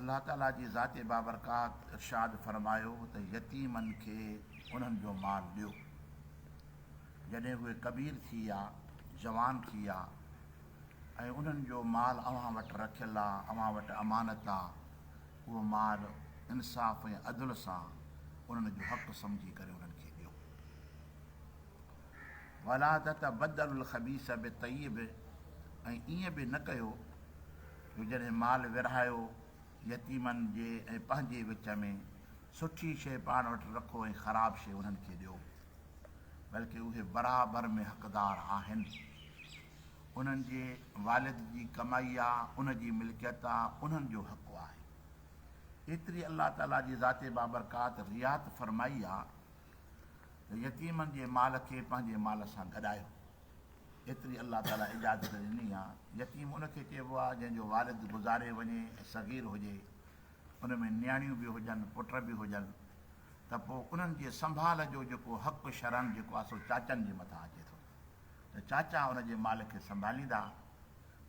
الله تعاليٰ جي ذات بابرڪات ارشاد فرمايو ته يتيمن کي انهن جو مال ڏيو جڏهن اهي ڪبير ٿي يا جوان ٿي يا ۽ انهن جو مال اوهان وٽ رکيل آ، اوهان وٽ امانت آ، اهو مال انصاف ۽ عدل سان انهن جو حق سمجهي ڪري انهن کي ڏيو. ولا تتبدلوا الخبيث بالطيب ۽ ائين به نه ڪيو جو جڏهن مال ورهايو يتيمن جي ۽ پنهنجي وچ ۾ سٺي شيء پاڻ وٽ رکو ۽ خراب شيء انهن کي ڏيو بلڪه اهي برابر ۾ حقدار آهن انهن جي والد جي ڪمائي آ ان جي ملڪيت آ انهن جو حق آهي ايتري الله تعالي جي ذات بابرڪات رعايت فرمائي آ ته يتيمن جي مال کي پنهنجي مال سان گڏايو ايتري الله تعاليٰ اجازت ڏني آهي. يتيم ان کي چئبو آهي جنهن جو والد گذاري وڃي ۽ صغير هجي، ان ۾ نياڻيون به هجن، پٽ به هجن ته پوء انهن جي سنڀال جو جيڪو حق شرعن جيڪو آهي سو چاچن جي مٿان اچي ٿو ته چاچا ان جي مال کي سنڀاليندا.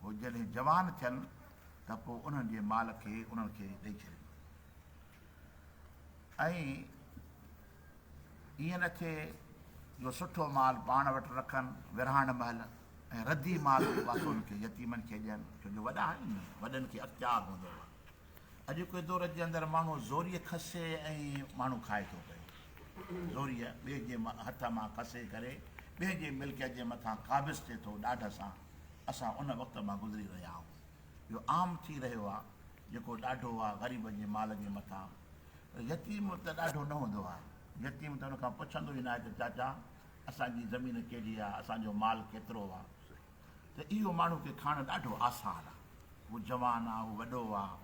هو جڏهن جوان ٿين ته پوء انهن جي مال کي انهن کي ڏئي ڇڏيندو ۽ ائين نه ٿئي جو سٺو مال پاڻ وٽ رکن ورهاڻ مهل ۽ ردي مال جو پاسو ان کي يتيمن کي ڏين ڇو جو وڏا آهن نه وڏن کي اختيار هوندو هو اڄوڪي دور جي اندر ماڻهو زوريء کسي ۽ ماڻهو کائي ٿو پئي زوريء ٻئي جي هٿ مان کسي ڪري ٻئي جي ملڪيت جي مٿان قابض ٿئي ٿو ڏاڍ سان اسان ان وقت مان گذري رهيا آهون اهو عام ٿي رهيو آهي جيڪو ڏاڍو آهي غريب جي مال جي مٿان يتيم ته ڏاڍو نه هوندو آهي. يتيم ته ان کان پڇندو ئي ناهي ته چاچا اسان جي زمين ڪهڙي آهي، اسان جو مال ڪيترو آهي. ته اهو ماڻهو کي کائڻ ڏاڍو آسان آهي. هو جوان آهي، هو وڏو آهي،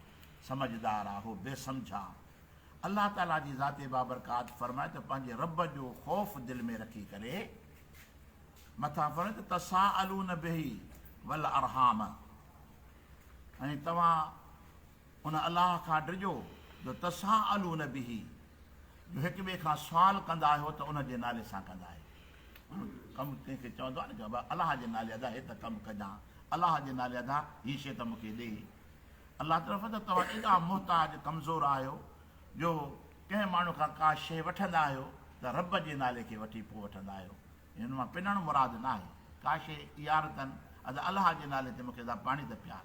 سمجهدار آهي، هو بي سمجهه آهي. الله تعاليٰ جي ذات بابرڪات فرمائي ته پنهنجي رب جو خوف دل ۾ رکي ڪري مٿان فرمائي ته تساءلون به والارحام ۽ توهان ان الله کان ڊڄو جو تساءلون به، جو هڪ ٻئي کان سوال ڪندا آهيو ته ان جي نالي سان ڪندا آهيو. ماڻهو ڪم ڪنهن کي چوندو آهي نه جو ابا الله جي نالي ادا هي ته ڪم ڪجان، الله جي نالي ادا هي شيء ته مون کي ڏي. الله تعالي فرمائي ٿو توهان ايڏا محتاج ڪمزور آهيو جو ڪنهن ماڻهو کان ڪا شيء وٺندا آهيو ته رب جي نالي کي وٺي پوء وٺندا آهيو. يعني ان مان پنڻ مراد نه آهي ڪا شيء ايارتن ادا الله جي نالي تي مون کي ادا پاڻي ته پيار.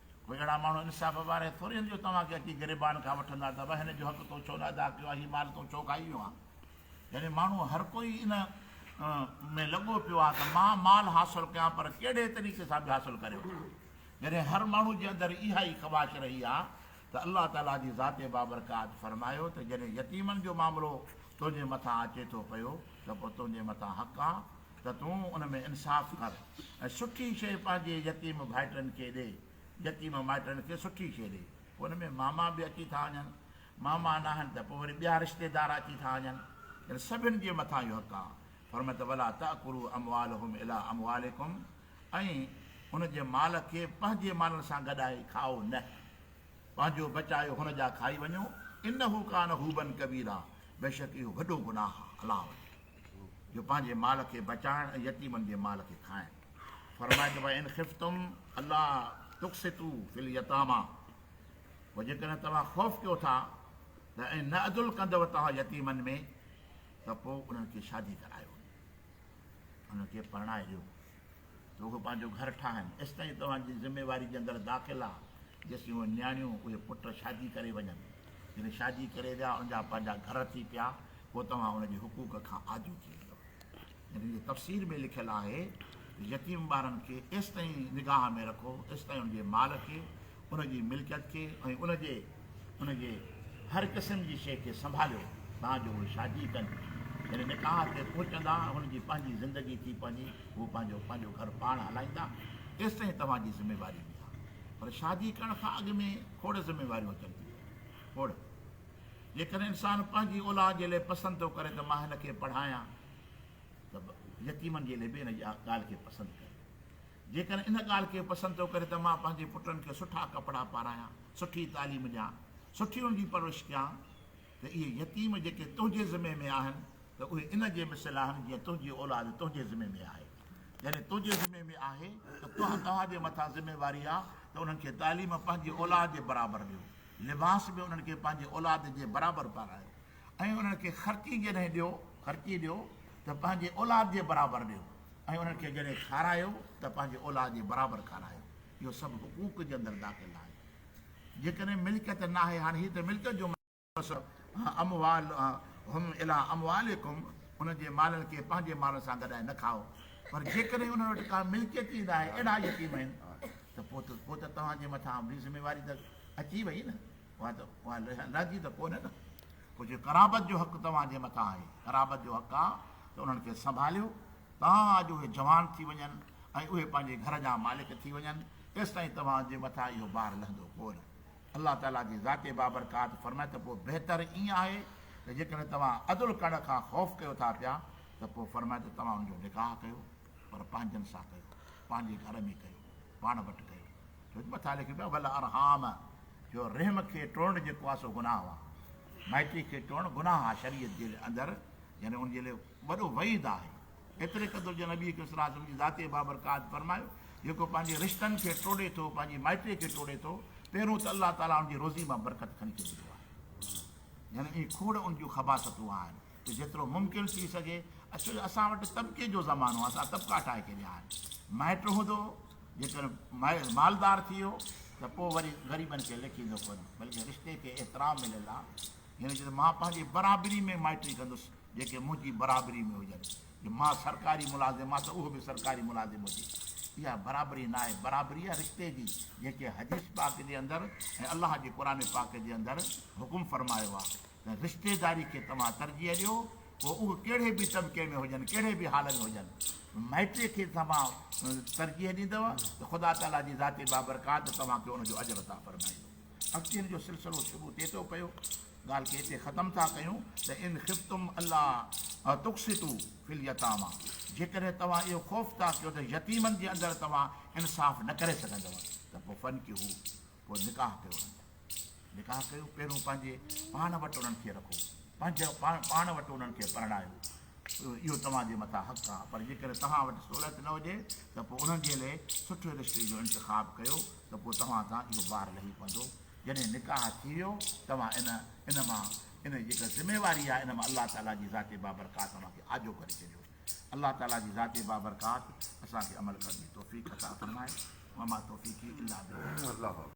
وڳڙا ماڻهو انصاف واري ٿوري هن جو توهان کي اچي گريبان کان وٺندا ته وهن جو حق تو ڇو نه ادا ڪيو آ هي مال تو ڇو کائي ويو آ يعني ماڻهو هر ڪوئي ان ۾ لڳو پيو آ ته مان مال حاصل ڪيان پر ڪهڙي طريقي سان به حاصل ڪري وٺان جڏهن هر ماڻهو جي اندر اها ئي خواهش رهي آ ته الله تعالي جي ذات بابرڪات فرمايو ته جڏهن يتيمن جو معاملو تنهنجي مٿان اچي ٿو پيو ته پوء تنهنجي مٿان حق آ ته تون ان ۾ انصاف ڪر ۽ سٺي شيء پنهنجي يتيم ڀائٽن کي ڏي، يتيم مائٽن کي سٺي شيء ڏي، پوء ان ۾ ماما به اچي ٿا وڃن، ماما ناهن ته پوء وري ٻيا رشتيدار اچي ٿا وڃن، تن سڀن جي مٿان اهو حق آهي، فرمائي ته ولا تاڪلوا اموالهم الي اموالڪم ۽ ان جي مال کي پنهنجي مالن سان گڏائي کائو نه، پنهنجو بچايو هن جا کائي وڃو، انه ڪان حوبا ڪبيرا بيشڪ اهو وڏو گناهه آهي، الله اڪبر. جو پنهنجي مال کي بچائڻ ۽ يتيمن جي مال کي کائڻ. فرمايو ته وان خفتم الا تقسطو في اليتاميٰ پوء جيڪڏهن توهان خوف ڪيو ٿا ته ۽ نه عدل ڪندؤ توهان يتيمن ۾ ته پوء انهن کي شادي ڪرايو انهن کي پرڻائي ڏيو. رڳو پنهنجو گهر ٺاهن، ايستائين توهان جي ذميواري جي اندر داخل آ، جيسين اهي نياڻيون، اهي پٽ شادي ڪري وڃن. جڏهن شادي ڪري ويا، ان جا پنهنجا گهر ٿي پيا، پوء توهان ان جي حقوق کان آجو ٿي ويندؤ. ان جي تفسير ۾ لکيل آهي ته يتيم ٻارن کي ايستائين نگاهه ۾ رکو، ايستائين ان جي مال کي ان جي ملڪيت کي ۽ ان جي ان جي هر قسم جي شيء کي سنڀاليو تان جو اهي شادي ڪن يعني نڪاح تي پهچندا هن جي پنهنجي زندگي ٿي پوندي هو پنهنجو پنهنجو گهر پاڻ هلائيندا ايستائين توهان جي ذميواري هوندي پر شادي ڪرڻ کان اڳ ۾ کوڙ ذميواريون اچن ٿيون کوڙ جيڪڏهن انسان پنهنجي اولاد جي لاء پسند ٿو ڪري ته مان هن کي پڙهايان ته يتيمن جي لاء به هن جي ڳالهه کي پسند ڪري جيڪڏهن ان ڳالهه کي پسند ٿو ڪري ته مان پنهنجي پٽن کي سٺا ڪپڙا پارايان، سٺي تعليم ڏيان، سٺي انهن جي پرورش ڪيان ته اهي يتيم جيڪي تنهنجي ذمي ۾ آهن ته اهي ان جي مثل آهن جيئن تنهنجي اولاد تنهنجي ذمي ۾ آهي. جڏهن تنهنجي ذمي ۾ آهي ته توهان توهان جي مٿان ذميواري آهي ته انهن کي تعليم پنهنجي اولاد جي برابر ڏيو، لباس به انهن کي پنهنجي اولاد جي برابر پارايو. ۽ انهن کي خرچي جڏهن ڏيو، خرچي ڏيو، ته پنهنجي اولاد جي برابر ڏيو، ۽ انهن کي جڏهن کارايو ته پنهنجي اولاد جي برابر کارايو، اهو سڀ حقوق جي اندر داخل آهي. جيڪڏهن ملڪيت ناهي، هاڻي هي ته ملڪيت جو مسئلو آهي، اموالهم الي اموالڪم، انهن جي مالن کي پنهنجي مالن سان گڏائي نه کائو، پر جيڪڏهن انهن وٽ ڪا ملڪيت ئي ناهي، اهڙا يتيم آهن، ته پوء ته توهان جي مٿان به ذميواري ته اچي وئي نه. اها ته اها لهجي ته ڪونهي نه پوء جي قرابت جو حق توهان جي مٿان آهي قرابت جو حق آهي ته انهن کي سنڀاليو تان اڄ اهي جوان ٿي وڃن ۽ اهي پنهنجي گهر جا مالڪ ٿي وڃن تيستائين توهان جي مٿان اهو بار لهندو ڪونه الله تعالي جي ذات بابرڪات فرمائي ته پوء بهتر ائين آهي ته جيڪڏهن توهان عدل ڪرڻ کان خوف ڪيو ٿا پيا ته پوء فرمائي ته توهان ان جو نڪاح ڪيو پر پنهنجن سان ڪيو، پنهنجي گهر ۾ ڪيو، پاڻ وٽ ڪيو، ڇو جو مٿان لکيو پيو آهي والارحام جو رحم کي ٽوڙڻ جيڪو آهي سو گناهه آهي، مائٽي کي ٽوڙڻ گناهه آهي شريعت جي اندر يعني ان جي لاء وڏو وعيد آهي، ايتري قدر جو نبي ڪريم صلي الله عليه وسلم جي ذاتي بابرڪات فرمايو جيڪو پنهنجي رشتن کي ٽوڙي ٿو، پنهنجي مائٽي کي ٽوڙي ٿو، پهريون ته الله تعاليٰ ان جي روزي مان برڪت کڻي ڇڏيندو آهي يعني اهي کوڙ ان جون خباثتون آهن. ته جيترو ممڪن ٿي سگهي اڇو جو اسان وٽ طبقي جو زمانو آهي اسان طبقا ٺاهي ڇڏيا آهن مائٽ هوندو جيڪر مالدار ٿي ويو ته پوء وري غريبن کي لکيندو ڪونه بلڪه رشتي کي احترام مليل آهي هن چيو ته مان پنهنجي برابري ۾ مائٽري ڪندس جيڪي منهنجي برابري ۾ هجن جو مان سرڪاري ملازم آ ته اهو به سرڪاري ملازم هجي اها برابري نه آهي برابري آ رشتي جي جيڪي حديث پاڪ جي اندر ۽ الله جي قرآن پاڪ جي اندر حڪم فرمايو آ رشتيداري کي توهان ترجيح ڏيو، پوء اهي ڪهڙي به طبقي ۾ هجن، ڪهڙي به حال ۾ هجن. مائٽيء کي توهان ترجيح ڏيندؤ ته خدا تعاليٰ جي ذات بابرڪات توهان کي ان جو اجر عطا فرمائيندو. اڳتي هن جو سلسلو شروع ٿئي ٿو پيو. ڳالهه کي هتي ختم ٿا ڪيون ته ان خفتم الا تقسطوا في اليتاميٰ جيڪڏهن توهان اهو خوف ٿا ڪيو ته يتيمن جي اندر توهان انصاف نه ڪري سگهندؤ ته پوء فانڪحوا. پوء نڪاح ڪيو انهن سان. نڪاح ڪيو پهريون پنهنجي پاڻ وٽ انهن کي رکو. پنهنجي پاڻ وٽ انهن کي پرڻايو. اهو توهان جي مٿان حق آهي. پر جيڪڏهن توهان وٽ سهولت نه هجي ته پوء انهن جي لئي سٺي رشتي جو انتخاب ڪيو ته پوء توهان تان اهو بار لهي پوندو. جڏهن نڪاح ٿي ويو توهان ان ان مان ان جي جيڪا ذميواري آهي ان مان الله تعاليٰ جي ذات بابرڪات اوهان کي آجو ڪري ڇڏيو. الله تعاليٰ جي ذات بابرڪات اسان کي عمل ڪرڻ جي توفيق عطا فرمائي. وما توفيقي الا بالله.